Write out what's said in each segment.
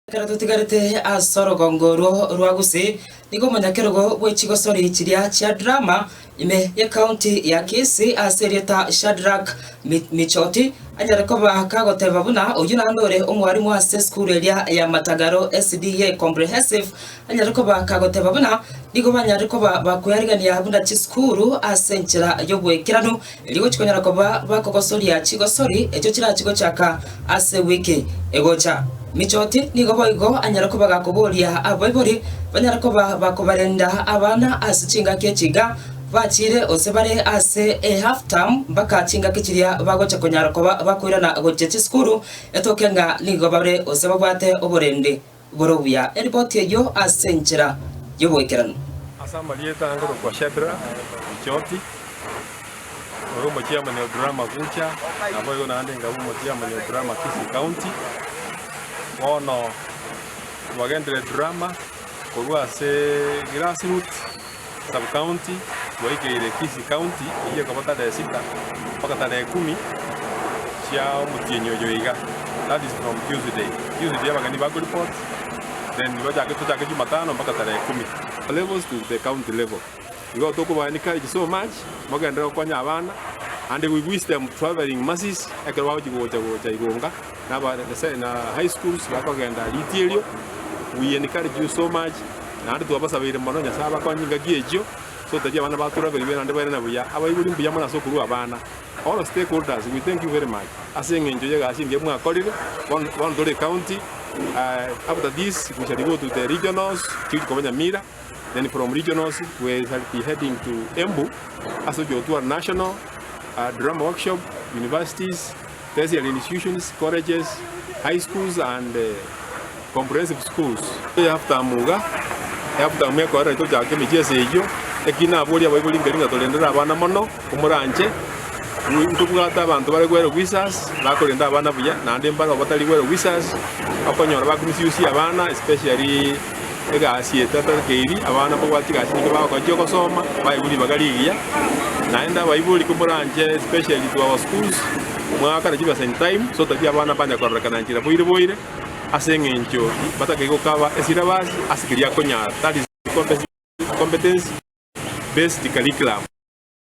Ekero totigarete ase orogongo orwo rwa gose, nigo omonyakerogo bwe chigosori chiria chia Drama, ime y'ecounty ya Kisii, ase erieta Shadrack Michoti, anyare koba kagoteba buna oyio naende ore omwarimu ase esukuru eria ya Matagaro SDA Comprehensive, anyare koba kagoteba buna nigo banyare koba bakoearigania buna chisukuru ase enchera y'obwekeranu, Erio gochia konyara koba bakogosoria chigosori echio chirachie gochaka ase wiki egocha. Michoti nigo boigo anyare koba gakoboria abaibori banyare koba bakobarenda abana ase chingaki echi iga bachiire gose bare ase e half term mpaka chingaki chiria bagocha konyara koba bakoirana gochia chisukuru, etoke ng'a nigo bare gose babwate oborende. Igoro buya eripoti eyio ase enchera y'oboikeranu. Ase amarieta angorokwa Shadrach, Bichoki, oyo omochiamani o Drama Gucha, naboigo naende nkabe omochiamani o Drama Kisii County. Bono twagenderire Drama korwa ase grassroots. Sub-county bwaigeire Kisii County eyio ekoba tare sita mpaka tare ekuumi chia omotienyi oyo iga, that is from Tuesday. Tuesday abageni ba koreport then bachake tochake Jumatano mpaka tare ekuumi. O levels to the county level igo tokobaa encourage so much mogenderere gokonya abana and we wish them travelling mercies ekero bagochi gocha gocha igonga. Naba Nyasaye na high schools bakogenda riti erio we encourage you so much naende twabasabeire mono Nyasaye abakonye engaki echio ase ogotebi abana batura baribe naende bairane buya abaibori mbuya mono ase okorua abana all stakeholders we thank you very much ase eng'encho y'egasi engiya mwakorire bono bono tore county eh, after this we shall go to the regionals chief koba Nyamira then from regionals we shall be heading to Embu ase ogochia gotwara national uh, drama workshop universities tertiary institutions, colleges, high schools and comprehensive schools. Eaftamu iga, Eaftamu ekorera tochake emechie ase eyio, eki naborie abaibori mberi ng'a torendere abana mono komoranche, ntobwate abanto bare gwere visas, bakorenda abana buya, naende mbare obatari gwere visas, okonyora ba misuse abana especially. Egasi etata eri abana mbabwate egasi nyinge bagochia gosoma baigwe ribaga rigiya naende abaibori komoranche especially to our schools mwagakana chibesa in time so that abana mbanye kororekana enchera boire boire ase eng'encho batakeire gokaba esilabasi ase keria akonyara that is competency based curriculum.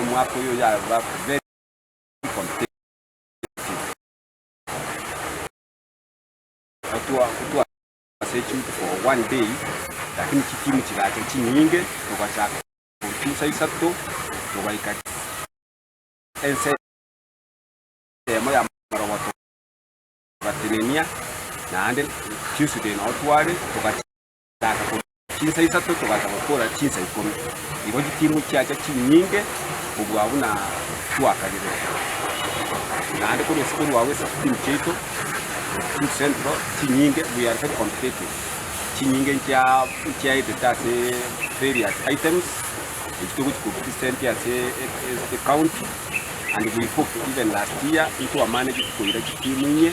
Omwaka oyo yaba very competitive gotwa ase chinguru for one day lakini chitimu chigacha chinyinge togachaka gochia saa isato togaika ense eyemo ya marogoto togatenenia naende Tuesday nao tware togachia Togacha kobua chinsa isato, togacha gokora chinsa ikomi. Igo chitimu chiacha chinyinge kobua buna twakariretie. Naende korwa ase korwao ase chitimu chiaito, Kisumu Central, chinyinge, we are very competitive. Chinyinge nchia nchiaetete ase various items, echi togochi kopresent ase e- e- ecounty, and we hope even last year intwe amaneti koira chitimu inye,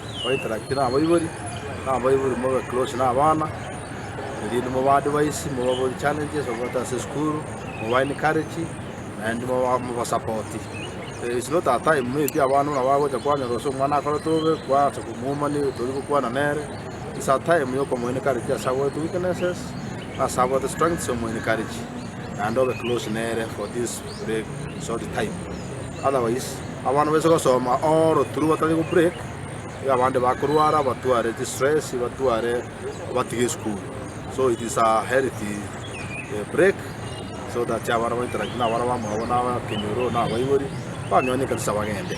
Baitarakiri na abaibori, na abaibori mobe close na abana, erinde mobaadvise, mobaborie challenges bagoeta ase esukuru, moba encourage naende mobasapoti. It's not a time maybe abana buna bagocha kwanyora gose omwana akorete bobe kwansa komwoma nigo toria gokwana nere, it's a time ya okomo encourage ase abwate weaknesses, ase abwate strengths omo encourage naende obe close nere for this. break short time otherwise abana baise gosoma all through batari go break iga abande bakorwara batware chi stress batware batige school so it is a health eh, break so that abana bainteract na abana bamwabo na abakenyoro na abaibori banywane kabisa bagende